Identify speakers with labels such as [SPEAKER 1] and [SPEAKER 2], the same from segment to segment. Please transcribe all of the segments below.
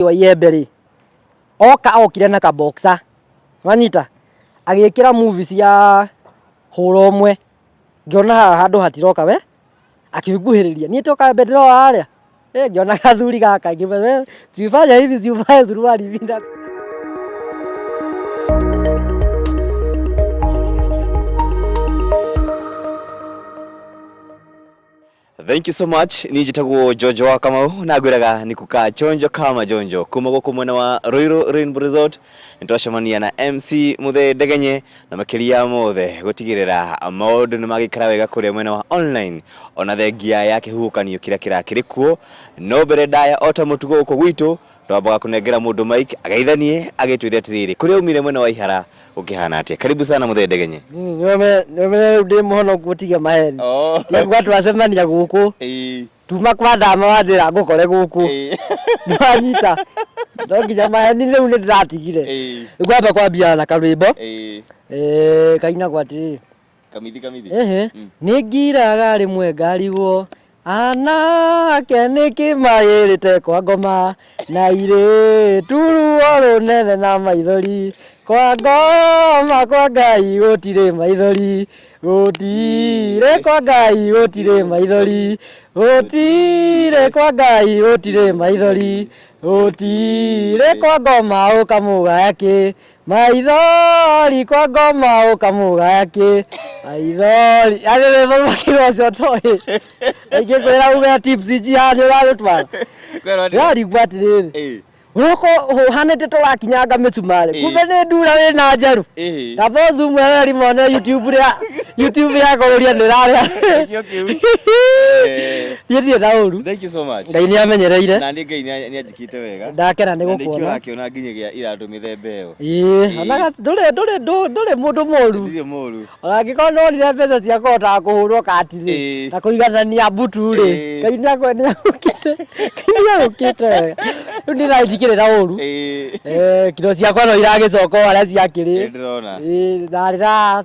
[SPEAKER 1] mũthuri wa iembe rĩ oka okire na kaboksa wanyita agĩkĩra muvi cia hũra ũmwe ngĩona haha handũ hatiroka we akĩnguhĩrĩria niĩ toka mbere ndĩrona harĩa ĩ ngĩona gathuri gaka ngĩmenya sifanya hivi sifanya suruali hivi na
[SPEAKER 2] Thank you so much. Niĩ njĩtagwo Jonjo wa Kamau na ngwĩraga nĩ kuka Jonjo kama Jonjo kuma gũkũ mwena wa Ruiru Rainbow Resort nĩ twacemania na MC Mũthee Ndegenye na makĩria ya mothe gũtigĩrĩra maũndũ nĩ magĩikara wega kũrĩa mwena wa online ona thengia ya kĩhuhũkanio kĩrĩa kĩrakĩrĩ kuo no mbere ndaya o ta mũtugo gũkũ gwitũ Twambaga kũnengera mũndũ mic ageitha niĩ agĩtwĩre atĩrĩrĩ kũrĩa umire mwena wa ihara gũkĩhana atĩa karibu sana mũthee ndegenye nĩũmenya
[SPEAKER 1] rĩu ndĩ mũhonoku ũtige maheni Oh. nĩkuga twacemania gũkũ Ĩĩ. tuma kwa ndama wanjĩra ngũkore gũkũ Ĩĩ. ndwanyita no nginya maheni rĩu nĩ ndĩratigire Ĩĩ. ngwamba kwambia na karwĩmbo Ĩĩ. eh, kainagwo atĩrĩrĩ Kamithi
[SPEAKER 2] kamithi. Ehe. Mm. Nĩ
[SPEAKER 1] ngiraga rĩmwe ngarigwo anake nĩ kĩmagĩrĩte kwa ngoma na irĩ turuo rũnene na maithori kwa ngoma kwa ngai gũtirĩ maithori gũtirĩ kwa ngai gũtirĩ maithori gũtirĩ kwa ngai gũtirĩ maithori gũtirĩ kwa ngoma ũkamũgaya kĩ Maithori kwa ngoma ukamugaya ki maithori yani we mama kiro cio toy aingi kwira uga tips ji hani uraru twara Kwero ni. yari gwa tiriri Eh. uko uhanite turakinyanga micumari Eh. kumbe ni ndura wi na njeru Eh. tabo zoom wewe rimone youtube ria youtube ya kururia ni raria Kĩo kĩu. Eh. yithie na uru Thank you so much. ngai ni
[SPEAKER 2] amenyereire Na
[SPEAKER 1] nĩ Ngai nĩ- nĩ
[SPEAKER 2] Wĩkĩte wega. Ndakena nĩ Na nĩkĩo gũkuona.
[SPEAKER 1] ũrakĩona nginya gĩa
[SPEAKER 2] iratũ mĩthemba ĩyo. Ĩĩ, onaga ndũrĩ
[SPEAKER 1] ndũrĩ ndũ- ndũrĩ mũndũ mũru. Ndirĩ mũru. Ona
[SPEAKER 2] angĩkorwo ndwonire
[SPEAKER 1] mbeca cia kũhotaga kũhũrwo kati-rĩ, Ĩĩ. na kũiganania mbutu-rĩ, Ĩĩ. Ngai nĩakwe- nĩagũkĩte Ngai nĩagũkĩte wega. Rĩu niĩ naĩ ndikĩrĩra ũru. Ĩĩ. Eh, kiro ciakwa no iragĩcoka o harĩa ciakĩrĩ. Ĩĩ, ndĩrona.
[SPEAKER 2] Ĩĩ, ndarĩra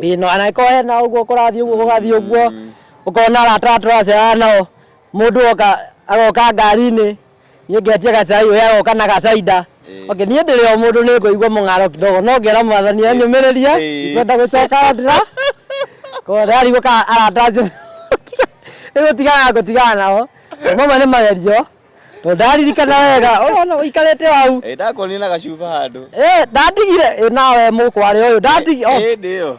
[SPEAKER 1] Ĩĩ no angĩkorwo hena ũguo kũrathiĩ ũguo gũgathiĩ ũguo ũkona arata arĩa tũracayana nao mũndũ oka agoka ngari-inĩ niĩ ngetia gacai we agoka na gacainda okay niĩ ndĩrĩ o mũndũ nĩ ngũigua mũng'aro kidogo no ngera mwathani anyũmĩrĩrie ndikwenda gũcoka ndĩra tayari gũka arata acio nĩ gũtigana ngũtigana nao mamwe nĩ magerio tondũ ndaririkana wega ũrona ũikarĩte hau Ĩ, ndakuonire na gacuba
[SPEAKER 2] handũ Eh, ndatigire Eh,
[SPEAKER 1] nawe mũkwarĩ ũyũ ndatigire oh, ĩndĩ ĩyo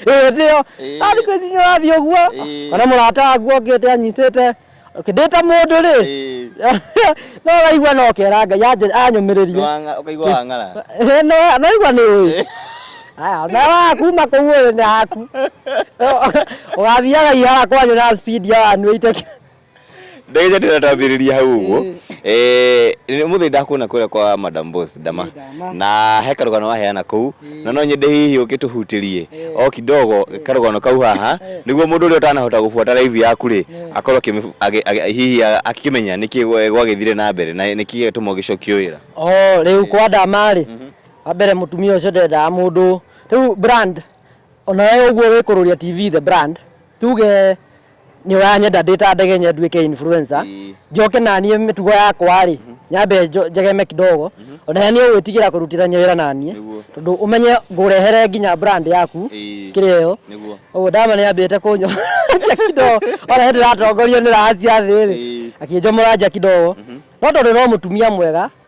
[SPEAKER 2] eh, ndio
[SPEAKER 1] Eh. ndari kwĩcinya ũrathiĩ ũguo Eh. kana mũrata waku okĩte anyitĩte kĩndĩta mũndũ rĩ Ĩ, no waigua no kera ngai anje- anyũmĩrĩrie wanga- ũkaigua wang'ara
[SPEAKER 2] Eh, no naigua nĩ
[SPEAKER 1] ũĩ aya na wakuma kũu ũrĩ nĩ haku ũgathiaga ihara kwanyu na speed ya wanyuĩte ndagĩte
[SPEAKER 2] ndĩratambĩrĩria hau ũguo Mm. Eh, nĩ mũthĩ ndakuona kũrĩa kwa madam boss ndama Nĩ ndama. na he karũgano waheana kũu Mm. na no nyende hihi ũkĩtũhutĩrie Eh. o kidogo karũgano kau haha Eh. nĩguo mũndũ ũrĩa ũtanahota gũbuata live yaku rĩ Mm. akorwo akĩmĩ- agĩ- agĩ- hihi a- akĩmenya nĩkĩ gwa- gwagĩthire na mbere na nĩkĩ gĩatũma ũgĩcokio wĩra o rĩu kwa
[SPEAKER 1] ndama rĩ wa mbere mũtumia ũcio ndendaga mũndũ rĩu brand ona we ũguo wĩkũrũria tv the brand tuge nĩ ũranyenda ndĩ ta ndege nye nduĩke influencer Ĩĩ. njoke naniĩ mĩtugo yakwa rĩ nyambe njo- njegeme kidogo ona yani ũgwĩtigĩra kũrutithania wĩra naniĩ Nĩguo. tondũ ũmenye ngũrehere nginya brand yaku Ĩĩ. kĩrĩa ĩyo Nĩguo. ũguo ndama nĩ ambĩte kũnyomoragia kidogo ona hĩndĩ ĩratongorio nĩ rahacia thĩ rĩ Ĩĩ. akĩnjomora nja kidogo no tondũ no mũtumia mwega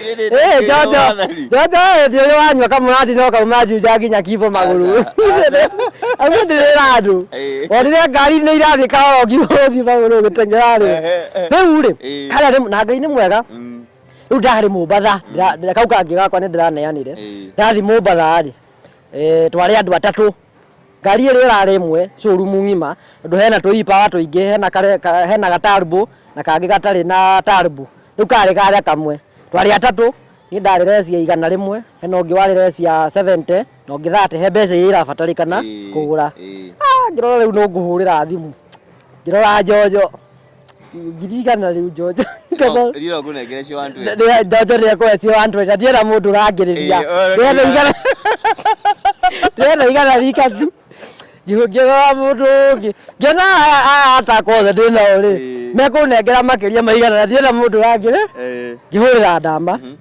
[SPEAKER 1] Eh, Jojo, Jojo eh, ndio yule wanywa kama unati no kama maji ujagi nyakivo maguru. Acha, Amu ndio radu. Eh. Onire ngari ni irathi kawa ogihogi maguru gitengerare. Ehe, ehe. Riu ri, Eh. kana ri na ngai ni mwega. Mm, Riu ndari mumbatha, ndira kau kangi gakwa ni ndiraneanire. Eh. Ndathi mumbatha ri. Eh, twari andu atatu. Ngari ĩrĩa ĩrarĩ ĩmwe showroom ng'ima, tondũ hena tũiipawa tũingĩ, hena karĩa, hena gatarbo na kangĩ gatarĩ na tarbo, rĩu karĩ karĩa kamwe, twarĩ atatũ, niĩ ndarĩ resi ya igana rĩmwe, hena ũngĩ warĩ resi ya seventy, na ũngĩ thate, he mbeca iria irabatarĩkana kũgũra, aah ngĩrora rĩu no ngũhũrĩra thimũ, ngĩrora njonjo. ndirigana rĩu njonjo rira
[SPEAKER 2] ngũnengere cio wantu njonjo nĩ ekũhe cio
[SPEAKER 1] wantu na ndiena mũndũ ũrangĩrĩria ndĩrenda igana ndĩrenda igana rika tu ngĩhũngĩrora mũndũ ũngĩ ngĩona aya atakwa othe ndĩ nao rĩ mekũnengera makĩria maigana na ndiena mũndũ ũrangĩrĩ ngĩhũrĩra ndama mhm.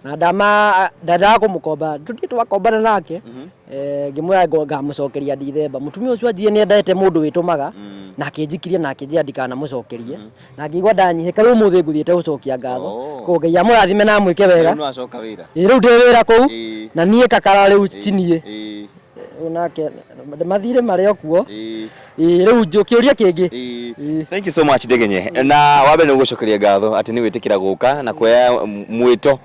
[SPEAKER 1] na ndama ndendaga kũmũkomba tũthiĩ twakombana nake Eh, ngĩmwĩra ngo- ngamũcokeria ndithemba mũtumia ũcio athiĩ nĩ endete mũndũ wĩtũmaga na akĩnjikiria na akĩnjĩra ndikanamũcokerie na ngĩigua ndanyihĩka rĩu ũmũthĩ ngũthiĩte gũcokia ngatho Oh. koguo ngai amũrathime na amwĩke wega Rĩu no acoka wĩra ĩ
[SPEAKER 2] rĩu ndĩ wĩra kũu
[SPEAKER 1] Ĩĩ. na niĩ kakara rĩu Ĩĩ, tiniĩ ĩĩ. nake mathirĩ marĩ okuo Ĩĩ. Ĩĩ, rĩu njũ- kĩũria kĩngĩ Ĩĩ. Ĩĩ. Thank you so
[SPEAKER 2] much Ndegenye. Na wambe nĩ gũgũcokeria ngatho atĩ nĩ wĩtĩkĩra gũka na kuoya m- mwĩto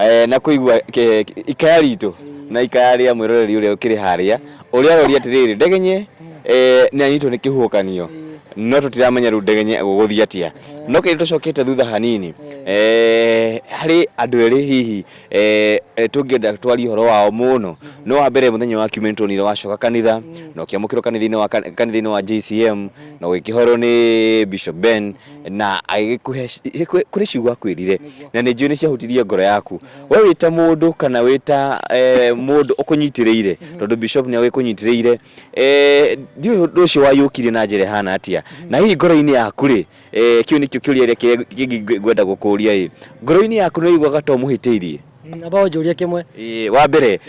[SPEAKER 2] eh, na kũigua ke- ke- ikaya ritũ na ikaya rĩa mwĩroreri ũrĩa ũkĩrĩ harĩa ũrĩa aroria atĩrĩrĩ Ndegenye eh, nĩ anyitwo nĩ kĩhuhũkanio no tũtiramenya rĩu Ndegenye gũgũthiĩ atĩa. No kĩndũ tũcokete thutha hanini eh, harĩ andũ erĩ hihi eh, eh, tũngĩenda twarie ũhoro wao mũno no wa mbere mũthenya wa kiumia nĩtuonire wacoka kanitha na ũkĩamũkĩrwo kanitha-inĩ wa kan- kanitha-inĩ wa JCM na ũgĩkĩhorwo nĩ Bishop Ben na agĩkũhe ci- kũ- kũrĩ ciugo akwĩrire na nĩ njũĩ nĩ ciahutirie ngoro yaku we wĩ ta mũndũ kana wĩ ta eh, mũndũ ũkũnyitĩrĩire tondũ Bishop nĩ agĩkũnyitĩrĩire eh, ndiũĩ ũndũ ũcio wayũkire na njĩra ĩhana atĩa na hihi ngoro-inĩ yaku rĩ Eh, kĩu nĩkĩo kĩũria ĩrĩa kĩrĩa kĩngĩ ngwe- ngwenda gũkũria ĩ ngoro-inĩ yaku nĩ ũiguaga ta ũmũhĩtĩirie Mm, amba ũnjũrie
[SPEAKER 1] kĩmwe Ĩ, wa mbere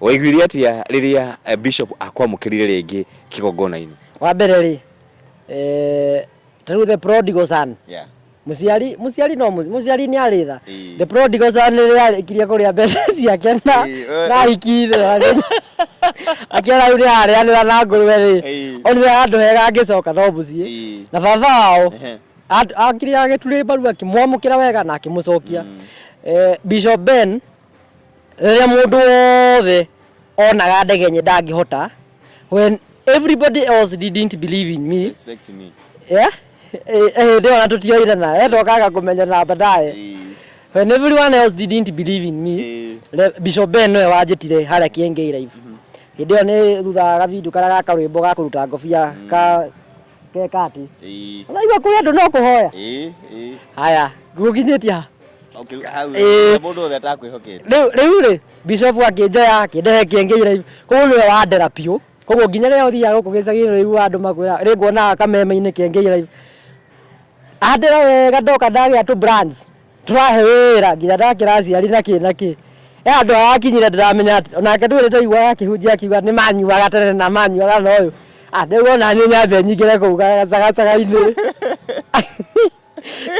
[SPEAKER 2] waiguire atĩa rĩrĩa eh, bishop akwamũkĩrire rĩngĩ kĩgongona-inĩ wa mbere rĩ
[SPEAKER 1] eh, tarĩu the prodigal son Yeah. mũciari mũciari no mũci- mũciari nĩ arĩ tha Ĩ. The prodigal son rĩrĩa arĩkirie kũrĩa mbeca ciake na Ĩĩ, ĩĩ. na ahikire akĩona rĩu nĩararĩanĩra na ngũrwe rĩ Ĩĩ. onire handũ hega angĩcoka no mũciĩ Ĩĩ. na baba wao Ehe. at- akire agĩturĩ mbaru akĩmwamũkĩra wega na akĩmũcokia Eh, Bishop Ben rĩrĩa mũndũ wothe onaga ndege nye ndangĩhota when everybody else didn't believe in me Respect me. yeah?
[SPEAKER 2] Eh,
[SPEAKER 1] eh, hĩndĩ ĩyo ona tũtioire na eh, twokaga kũmenyana baadaye Eh, when everyone else didn't believe in me eh, Re- bishop ben nĩwe wanjĩtire harĩa kĩengei live hĩndĩ ĩyo nĩ thutha wa gavindu karĩa ga karwĩmbo ga kũruta ngobia ka ke kati eh, ũraigua kũrĩ andũ no kũhoya eh, eh. haya gũkinyĩtie ha Okay, hau,
[SPEAKER 2] Eh. mũndũ wothe atakwĩhokete rĩu rĩu rĩ
[SPEAKER 1] bishop akĩnjoya akĩndehe kĩengei live koguo nĩwe wandera biũ koguo nginya rĩrĩa ũthiaga gũkũ gĩcagi-inĩ ũrĩiguaga andũ makwĩra rĩ nguonaga kameme-inĩ kĩa Ngei Live andĩra wega ndoka ndagĩa tũ brands tũrahe wĩra nginya ndakĩra aciari na kĩ na kĩ he handũ harakinyire ndĩramenya atĩ onake ndũĩ nĩndaiguaga akĩhunjia akiuga nĩ manyuaga tene na manyuaga na ũyũ ah rĩu ona niĩ nyambe nyingĩre kũu gacagacaga-inĩ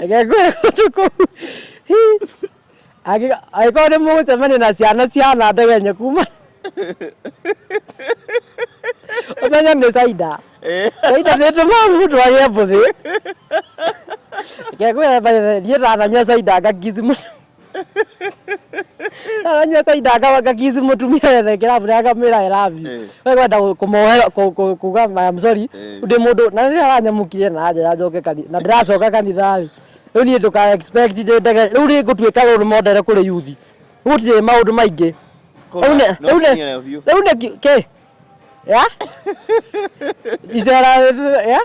[SPEAKER 1] reke ngwĩre kũndũ kũu Angĩko- angĩkorwo nĩ mũgũcemania na ciana ciana ndegenye kuma ũmenye nĩ caida caida nĩ tũmaga mũndũ agĩe mbũthĩ kegwethiĩ ndananyua caida ngakithi mũndũ ndananyua caida nga- ngakithi mũtumia wethe kĩrabu na ngamwĩra I love you Eh. we kwenda kũ- kũmohe- kũ- kũ- kuga I am sorry Eh. ndĩ mũndũ na rĩrĩa aranyamũkire na anjĩra njoke kanitha na ndĩracoka kanitha-rĩ rĩu niĩ ndũka expect ndĩ ndege rĩu rĩ ngũtuĩka role model kũrĩ yuthi gũtirĩ maũndũ maingĩ rĩu nĩ- No rĩu nĩ- kinyĩre biũ. rĩu nĩ ki- kĩ ya icera ya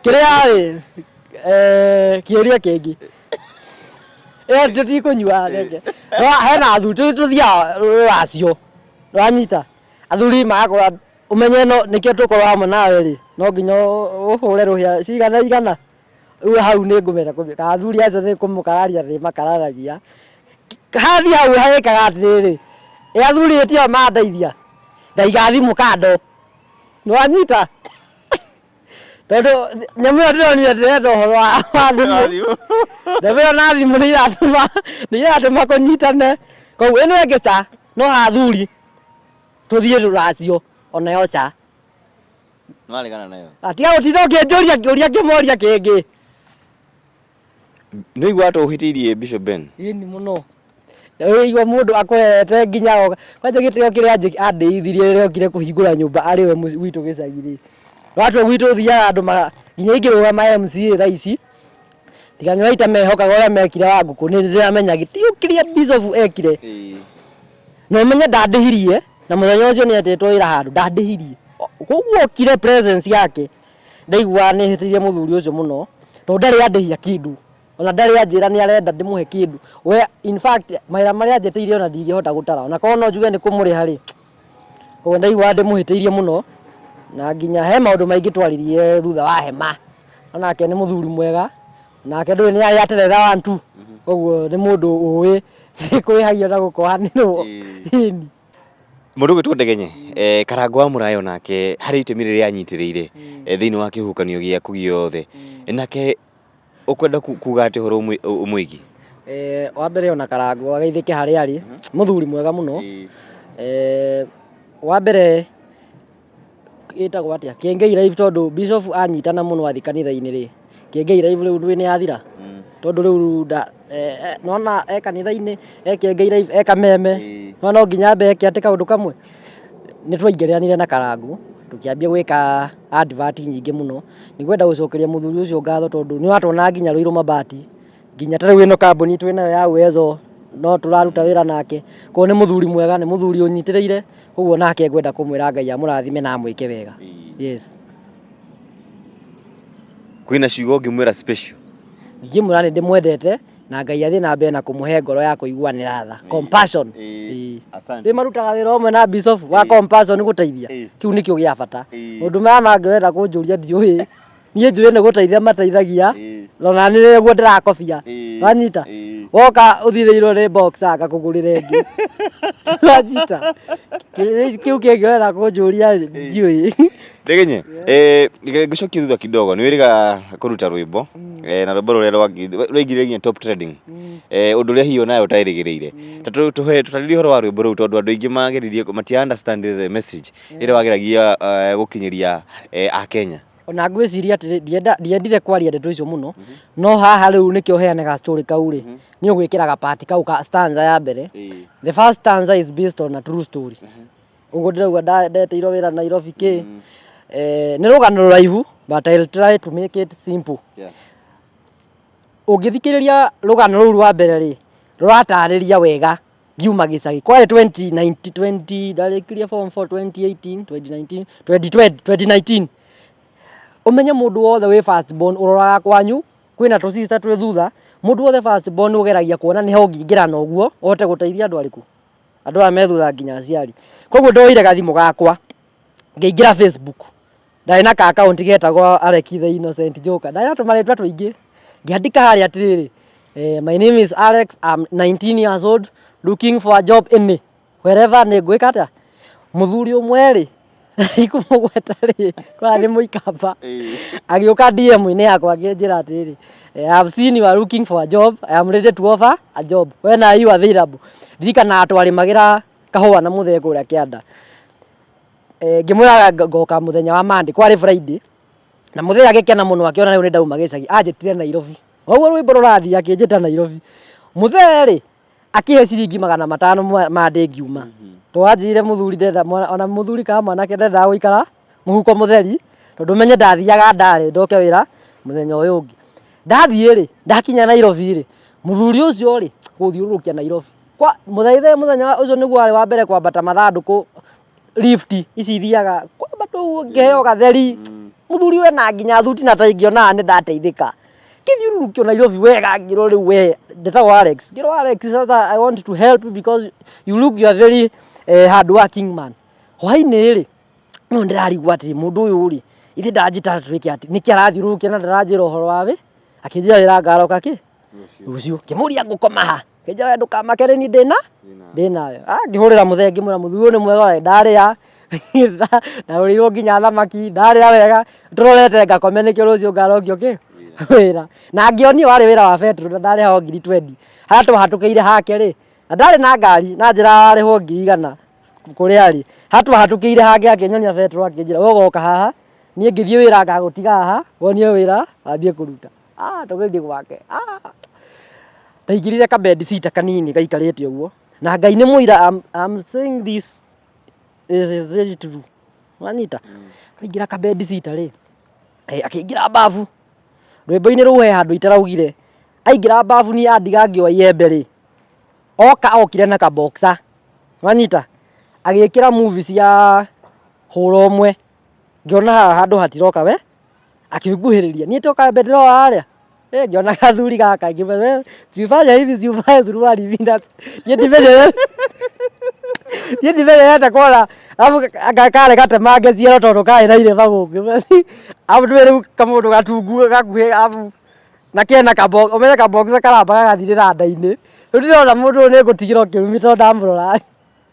[SPEAKER 1] kĩrĩa rĩ eh, kĩũria kĩngĩ ĩyo tũtikũnyua reke No, hena athuri tũ- tũthiaga rũracio rwanyita athuri magakorwo ũmenye no nĩkĩo tũkorwo hamwe nawe rĩ no nginya ũ- ũhũre rũhĩa cigana igana Rĩu hau nĩ ngũmenya kũmĩka. Athuri acio nĩ kũmũkararia ndĩmakararagia. Hathi hau hagĩkaga atĩrĩrĩ, ĩ athuri ĩ tio mandeithia, ndaigathi mũkando. Nĩwanyita? Tondũ nyamũ ĩyo ndĩronire ndĩrenda ũhoro wa thimũ. Nyamũ ĩyo na thimũ nĩiratũma nĩiratũma kũnyitane. Koguo ĩno ĩngĩ ca, no athuri tũthiĩ rũracio o nayo ca.
[SPEAKER 2] Nĩwaregana nayo. Atiga gũtinda ũkĩnjũria
[SPEAKER 1] kĩũria ngĩmoria kĩngĩ.
[SPEAKER 2] Nĩũigua ta ũhĩtĩirie Bishop Ben? Ĩni mũno.
[SPEAKER 1] Ũigua mũndũ akũhete nginya oka. Kwanja gĩtĩo kĩrĩa anjĩ- andĩithirie rĩrĩa okire kũhingũra nyũmba arĩ we mũci- gwitũ gĩcagi-rĩ. Watwe gwitũ thiaga andũ ma- nginya ingĩrũgama MCA thaa ici, tiga nĩũraita mehokaga ũrĩa mekire wa ngũkũ nĩndĩramenya gĩtĩo kĩrĩa Bishop ekire. Ĩĩ. Na ũmenye ndandĩhirie na mũthenya ũcio nĩ etĩtwo wĩra handũ ndandĩhirie. Koguo okire presence yake ndaiguaga nĩ hĩtĩirie mũthuri ũcio mũno tondũ ndarĩ andĩhia kĩndũ ona ndarĩ anjĩra nĩ arenda ndĩmũhe kĩndũ. We in fact mawĩra marĩa anjĩtĩire ona ndingĩhota gũtara ona korwo no njuge nĩ kũmũrĩha rĩ, koguo ndaiguaga ndĩmũhĩtĩirie mũno na nginya he maũndũ maingĩ twaririe thutha wa hema. Onake nĩ mũthuri mwega. nake ndũĩ nĩ arĩa terera wa ntu koguo nĩ mũndũ ũĩ kũrĩhagio na gũkohanĩrwo ini Mũndũ
[SPEAKER 2] ũgwĩtwo Ndegenye, eh, Karangũ wa Mũrayo nake harĩ itemi rĩrĩa anyitĩrĩire eh, thĩinĩ wa kĩhuhũkanio gĩaku gĩothe Eh, nake ũkwenda ku- kuga atĩ ũhoro ũmwĩ- ũ- ũmwĩgiĩ Eh, wa
[SPEAKER 1] mbere ona karangu ageithĩke harĩa arĩ mũthuri mwega mũno Eh, wa mbere ĩtagwo atĩa Kiengei live tondũ bishop anyitana mũno athi kanitha-inĩ rĩ Kiengei live rĩu nĩ yathira tondũ rĩu nda eh, eh, nona e kanitha-inĩ e Kiengei live e kameme no no nginya ambe eke atĩ kaũndũ kamwe nĩ twaingĩrĩranire na karangũ tũkĩambia gwĩka advert nyingĩ mũno nĩ gwenda gũcokeria mũthuri ũcio ngatho tondũ nĩ watwona nginya rũirũ mabati nginya tarĩu ĩno kambuni twĩ nayo ya Uwezo no tũraruta wĩra nake koguo nĩ mũthuri mwega nĩ mũthuri ũnyitĩrĩire koguo nake ngwenda kũmwĩra Ngai amũrathime na amwĩke wega yes
[SPEAKER 2] kwĩna ciugo ũngĩmwĩra special ingĩmwĩra nĩ
[SPEAKER 1] ndĩmwendete na Ngai athiĩ na mbere na kũmũhe ngoro ya kũiguanĩra tha compassion Ĩĩ. asante rä marutaga wä ra å mwe na bishop wa compassion gũteithia Ĩĩ. kä u nä kä o gä a bata Ĩĩ. må ndå maya mangä wenda kå njå ria ndiå niä njå ä nä gå teithia mateithagia ona nä guo ndä rakobia wanyita woka å thithäirwo nä ngakå gå rä ra ä ngä wanyita kä u kä ngä wera kå njå ria rä ndiå ä Ndegenye,
[SPEAKER 2] eh, ngĩcokia thutha kidogo nĩ wĩrĩga kũruta rwĩmbo eh, na rwĩmbo rũrĩa rwangi- rwaingire nginya top trending eh, ũndũ ũrĩa hihi onawe ũtaĩrĩgĩrĩire Ta tũ- tũhe- tũtarĩrie ũhoro wa rwĩmbo rũu tondũ andũ aingĩ mageririe matia understand the message ĩrĩa wageragia eh, gũkinyĩria eh, akenya ona ngwĩciria atĩrĩ
[SPEAKER 1] ndienda- ndiendire kwaria ndeto icio mũno no haha rĩu nĩkĩo heane ga story kau rĩ nĩ ũgwĩkĩra ga part kau ka stanza ya mbere Ĩĩ. the first stanza is based on a true story ũguo ndĩraigua nda- ndeteirwo wĩra nairobi kä Eh, nĩ rũgano rũraihu but I'll try to make it simple Yeah. ũngĩthikĩrĩria rũgano rũu rwa mbere rĩ rũratarĩria wega ngiuma gĩcagi kwarĩ 2019 ndarĩkirie form 4 2018 2019 2020 2019 ũmenye mũndũ wothe wĩ first born ũroraga kwanyu kwĩna tũ sister twĩ thutha mũndũ wothe first born ũgeragia kuona nĩ ha ũngĩingĩra na ũguo ũhote gũteithia andũ arĩkũ andũ aya me thutha nginya aciari koguo ndoire gathimũ gakwa ngĩingĩra facebook ndarĩ na ka akaunti getagwo Alec the Innocent Joker, ndarĩ na tũmarĩtwa tũingĩ ngĩandĩka harĩa atĩrĩrĩ eh, my name is Alex I'm 19 years old looking for a job any wherever nĩ ngwĩka atĩa mũthuri ũmwe rĩ ikũmũgweta rĩ kwa nĩ mũikamba agĩũka DM-inĩ yakwa akĩnjĩra atĩrĩrĩ eh, I have seen you are looking for a job I am ready to offer a job when are you available ndirikanaga twarĩmagĩra kahũa na mũtheko ũrĩa kĩanda Eh, ngĩmwĩra ngoka mũthenya wa Monday kwarĩ Friday na mũthenya agĩkena mũno akĩona rĩu nĩ ndauma gĩcagi anjĩtire Nairobi ũguo rwĩmbo rũrathiĩ akĩnjĩta Nairobi mũthee rĩ akĩhe ciringi magana matano mwa- ma ndĩ ngiuma twanjĩire mũthuri ndenda mwana- ona mũthuri kana mwanake ndendaga gũikara mũhuko mũtheri tondũ menye ndathiaga ndarĩ ndoke wĩra mũthenya ũyũ ũngĩ ndathiĩ rĩ ndakinya Nairobi rĩ mũthuri ũcio rĩ gũthiũrũrũkia Nairobi kwa mũthaithe mũthenya wa- ũcio nĩguo warĩ wa mbere kwambata mathandũkũ lift ici ithiaga kwamba tu ngĩheo gatheri mũthuri we na nginya thuti na tai ngĩonaga nĩ ndateithĩka ngĩthiũrũrũkio Nairobi wega ngĩrwo rĩu we ndĩtagwo Alex ngĩrwo Alex sasa I want to help you because you look you are very eh, hard working man hwainĩ rĩ no ndĩrarigwo atĩ mũndũ ũyũ rĩ ithe ndanjĩta twĩke atĩ nĩkĩ arathiũrũrũkia na ndaranjĩra ũhoro wa wĩ akĩnjĩra wĩra ngaroka kĩ rũciũ kĩmũria ngũkoma ha kĩnja we ndũkamake rĩ ni ndĩna ndĩnayo ngĩhũrĩra mũthee ngĩmwĩra mũthuri ũyũ nĩ mwega we ndarĩa ndarũrĩirwo nginya thamaki ndarĩa wega ndũrorete ngakome nĩkĩo rũciũ ngarogio kĩ wĩra na ngĩonio warĩ wĩra wa betũrũ na ndarĩ hao ngiri twendi harĩa twahatũkĩire hake rĩ na ndarĩ na ngari na njĩra arĩhwo ngiri igana kũrĩa arĩ harĩa twahatũkĩire hake akĩnyonia betũrũ akĩnjĩra ũgoka haha niĩ ngĩthiĩ wĩra ngagũtiga haha wonie wĩra wambie kũruta ah tũgĩthiĩ gwake ah ndaingĩrire ka bed sita kanini gaikarĩte ũguo na ngai nĩ mũira I'm, I'm saying this is very true wanyita ndaingĩra ka bed sita rĩ eh, akĩingĩra babu rwĩmbo-inĩ rũu he handũ itaraugire aingĩra babu niĩ andiga ngĩoa iembe rĩ oka okire na kaboxa wanyita agĩkĩra movie cia hũra ũmwe ngĩona haha handũ hatiroka we, akĩnguhĩrĩria, niĩ toka mbere ndĩrona harĩa, ĩ ngĩona gathuri gaka ngiuga we, usifanye hivi usifanye suruali hivi na niĩ ndimenyerere niĩ ndimenyerete kwara, arabu anga karĩ gatemange ciero tondũ karĩ na irema gũkũ, arabu nĩũĩ rĩu kamũndũ gatungu gakuhĩ arabu na kena ka box, ũmenye ka boxer karamba gagathirĩra nda-inĩ, rĩu ndĩrona mũndũ ũyũ nĩngũtigĩra ũkĩrumi tondũ ndamũrora.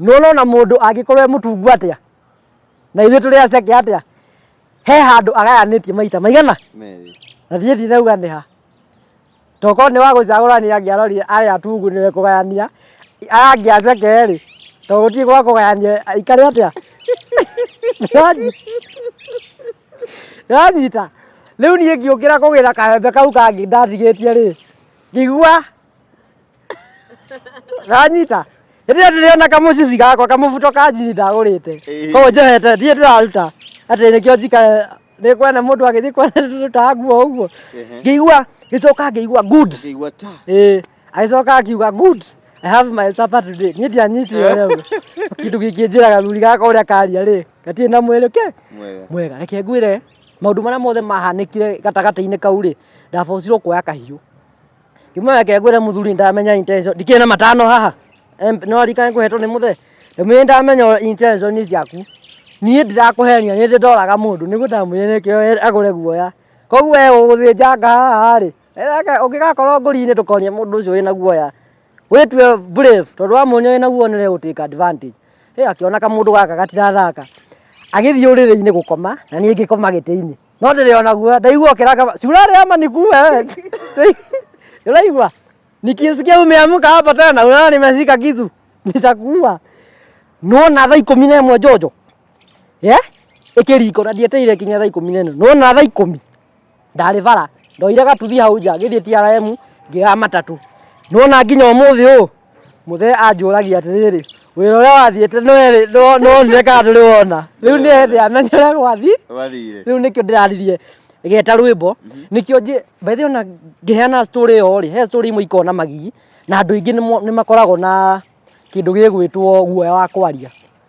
[SPEAKER 1] nĩ ũrona mũndũ angĩkorwo e mũtungu atĩa na ithuĩ tũrĩ aceke atĩa he handũ agayanĩtie maita maigana Merĩ. na thiĩ ndirauga nĩ ha tokorwo nĩ wa gũcagũrania angĩarorire arĩa atungu nĩwe kũgayania aya angĩ aceke rĩ to gũtirĩ gwa kũgayania aikare atĩa yanyita rĩu niĩ ngĩũkĩra kũgĩra kaembe kau kangĩ ndatigĩtie rĩ ngĩigua ranyita hĩndĩ ĩrĩa ndĩrĩona kamũcici gakwa kamũbuto ka njini ndagũrĩte koguo njohete thiĩ ndĩraruta atĩ nĩkĩo njika nĩ kwene mũndũ agĩthiĩ kwene ndũrutaga nguo ũguo ngĩigua gĩcoka ngĩigua good Ngĩigua ta. Eh, agĩcoka akiuga good I have my supper today niĩ ndianyitire rĩu kĩndũ kĩngĩnjĩra gathuri gaka ũrĩa karia rĩ gatirĩ na mwĩrĩ ke Mwega. mwega reke ngwĩre maũndũ marĩa mothe mahanĩkire gatagatĩ-inĩ kau rĩ ndabocirwo kuoya kahiũ Kiuma yake ngwĩre mũthuri ndamenya intention. Ndikĩrĩ na matano haha. Em, No arikane kũhetwo nĩ mũthe. Ndamwĩre ndamenya intention nĩ ciaku. Niĩ ndirakũhenia, nĩ ndĩ ndoraga mũndũ. Nĩguo ndamwĩre nĩkĩo e- agũre guoya. Koguo we ũgũthĩnjanga haha rĩ, etheka- ũngĩgakorwo ngũri-inĩ ndũkonie mũndũ ũcio wĩna guoya. Wĩtue brave, tondũ wamuonia wĩna guoya nĩ ũrĩgũ take advantage. Ĩ akĩona kamũndũ gaka gatirathaka. Agĩthiĩ ũrĩrĩ-inĩ gũkoma, na niĩ ngĩkoma gĩtĩ-inĩ. no ndĩrĩ ona guoya ndaigua ũkĩranga ba- cura rĩa maniku we ndĩraigua nikisikia umeamka hapa tena unaona nimeshika kitu nitakuua nona thaa ikũmi na ĩmwe njonjo ye ĩkĩriko na ndieteire kinya thaa ikũmi na ĩno nona thaa ikũmi ndarĩ bara ndoire gatuthi hau nja ngĩthiĩ trm ngĩoya matatũ nona nginya ũmũthĩ ũũ mũthee anjũragia atĩrĩrĩ wĩra ũrĩa wathiĩte nĩwonire kana ndũrĩ wona rĩu nĩethe amenye ũrĩa gwathi wathire rĩu nĩkĩo ndĩraririe geta rwĩmbo mhm. nĩkĩo njĩ mbaithe ona ngĩheana story ĩyo rĩ he story imwe ikona magigi na andũ aingĩ nĩ makoragwo na kĩndũ gĩgwĩtwo guoya wa kwaria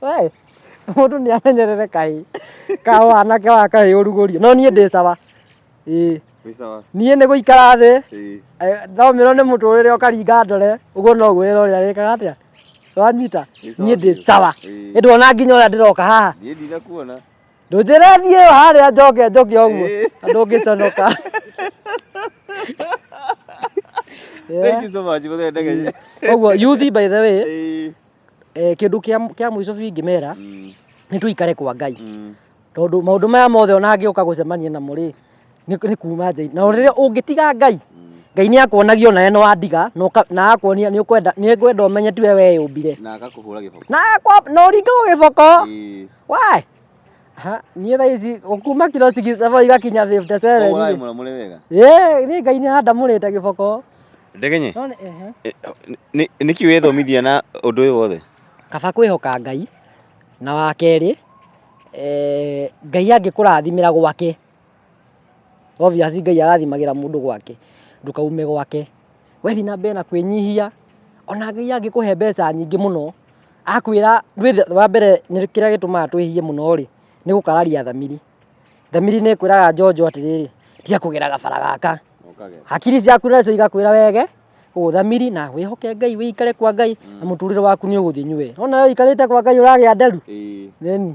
[SPEAKER 1] Hey, mũndũ nĩ amenyerere kaĩ kao anake wa kaĩ ũrugũrio no niĩ ndĩ sawa ĩĩ Wĩ sawa? niĩ nĩ gũikara thĩ Ĩĩ. eh, thomĩrwo nĩ mũtũrĩre ũkaringa ndore ũguo no gwĩra ũrĩa wĩkaga atĩa wanyita Wĩ sawa niĩ ndĩ biũ. sawa Ĩĩ. ĩndwona nginya ũrĩa ndĩroka haha Niĩ ndinakuona. ndũnjĩre thiĩ ĩyo harĩa njoke njoke ũguo Ĩĩ. andũ ũngĩconoka
[SPEAKER 2] Thank you so much. Mũthenya ndege. ũguo yuthi
[SPEAKER 1] by the way Ĩĩ. eh, kĩndũ kĩa kĩa mũico biũ ingĩmera nĩ tũikare kwa ngai tondũ maũndũ maya mothe ona angĩũka gũcemania namo rĩ nĩ nĩ kuma nja na rĩrĩa ũngĩtiga ngai ngai nĩ akuonagia ona we nĩ wandiga na ũka- na akuonia nĩ ũkwenda nĩ ngwenda ũmenye tiwe weyũmbire na agakũhũra gĩboko na
[SPEAKER 2] akwa- na ũringagwo
[SPEAKER 1] gĩboko Ĩĩ. wae Ha, niĩ thaa ici o kuma kiro six saba igakinya fifty Ũguo seven ũramũra mũrĩ
[SPEAKER 2] wega. ĩ nĩ ngai nĩ
[SPEAKER 1] andamũrĩte gĩboko Ndegenye, no nĩ
[SPEAKER 2] ehe ĩ- nĩ- nĩ- nĩki wĩthomithia na ũndũ ũyũ wothe? kaba kwĩhoka
[SPEAKER 1] ngai na wa kerĩ eh, ngai angĩkũrathimĩra gwake Obvious Ngai arathimagĩra mũndũ gwake, ndũkaume gwake. We thiĩ na mbere na kwĩnyihia, o na Ngai angĩkũhe mbeca nyingĩ mũno, akwĩra, wa mbere kĩrĩa gĩtũmaga twĩhie mũno-rĩ, nĩ gũkararia thamiri. Thamiri nĩ ĩkwĩraga njonjo atĩrĩrĩ, tiga kũgera gabara gaka. Hakiri ciaku nacio igakwĩra wege ũthamiri na wĩhoke Ngai, ũikare kwa Ngai na mũtũrĩre waku nĩ ũgũthiĩ nywe. Nĩwona ũikarĩte kwa Ngai ũragĩa nderu? Ĩĩ.